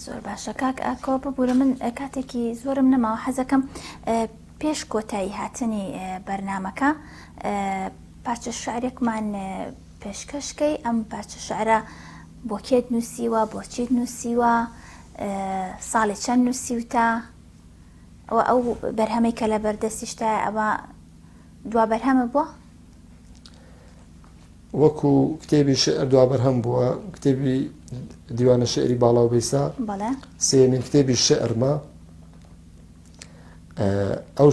زۆر باشە کاک ئاکۆ ببورە من کاتێکی زۆرم نەماوە حەزەکەم پێش کۆتایی هاتنی بەرنمەکە پارچە شعرێکمان پێشکەشکەی ئەم پارچە شعرە بۆ کێت نووسیوە بۆچیت نووسیوە ساڵی چەند نووسیوتە ئەو بەرهەمەی کە لە بەردەستیشتای ئەوە دوا بەرهەمە بووە وەکو کتێبی شعر دوابەرهەم بووە کتێبی دیوانە شعری باڵا و بیسا سێمین کتێبی شعرمە ئەو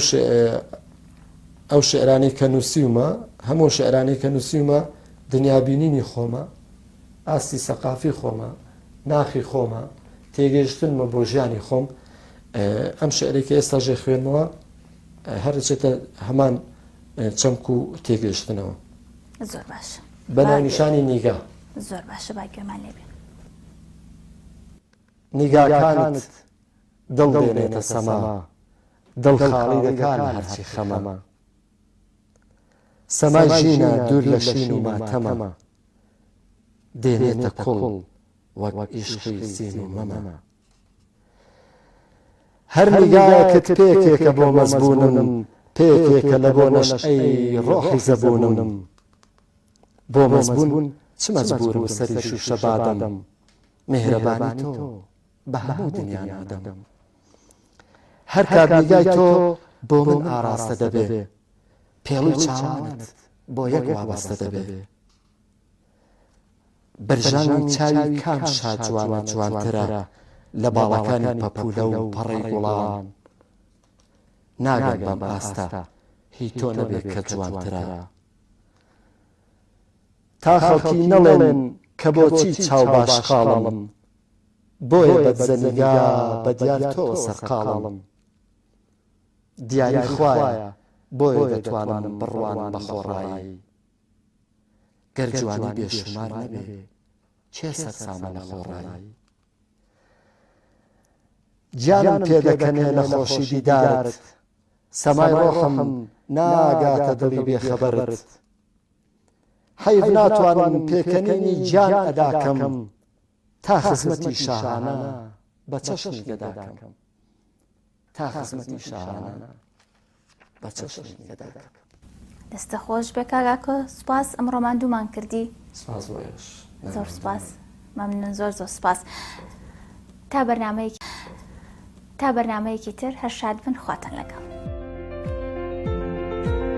ئەو شعرانی کە نووسیومە هەموو شعرانی کە نووسیومە دنیابینینی خۆمە ئاستی سەقافی خۆمە ناخی خۆمە تێگەشتنمە بۆ ژیانی خۆم ئەم شعرێکی ئێستا ژێ خوێنمەوە هەرچێتە هەمان چەمک و تێگەیشتنەوە. زۆر باشە بە ناونیشانی نیگا. زۆر باشە با گوێمان لێبێ. نیگاکانت دڵ دێنێتە سەما دڵ خاڵی دەکات لە هەرچی خەمە. سەمای ژینا دوور لە شین و ماتەمە دێنێتە کوڵ وەک ئیشقی سین و مەمە. هەر نیگایەکت پێکێکە بۆ مەزبوونم پێکێکە لە بۆ نەشئەی ڕۆحی زەبوونم بۆ مەزبوون چ مەجبوورم سەری شووشە بادەم میهرەبانی تۆ بە هەموو دنیا نادەم هەر کات نیگای تۆ بۆ من ئاراستە دەبێ پێڵوی چاوانت بۆ یەک وابەستە دەبێ بەرژانی چاوی کام شاجوانە جوانترە لە باڵەکانی پەپولە و پەڕەی گوڵان ناگەم بەم ئاستە هی تۆ نەبێ کە جوانترە تا خەڵکی نەڵێن کە بۆچی چاو باشقاڵم بۆیە بەدزە نیگا بە دیار تۆوە سەرقاڵم دیاری خوایە بۆیە دەتوانم بڕوانم بە خۆڕایی گەر جوانی بێ شومار نەبێ کێ سەرسامە لە خۆڕایی؟ گیانم پێ دەکەنێ لە خۆشی دیدارت سەمای ڕۆحم ناگاتە دڵی بێ خەبەرت حەیف ناتوانم پێکەنینی گیان ئەدا کەم تا خزمەتی شاهانە بە چەشنی گەدا کەم تا خزمەتی شاعرانە بە چەشنی گەدە دەکەم. دەستە خۆش بێ کاک ئاکۆ سوپاس ئەمڕۆ ماندوومان کردی سپاس بۆ ئێوەش. زۆر سپاس مەمنون زۆر زۆر سپاس تا بەرنمەیەکی تا بەرنمەیەکی تر هەر شاد بن خواتان لەگەڵ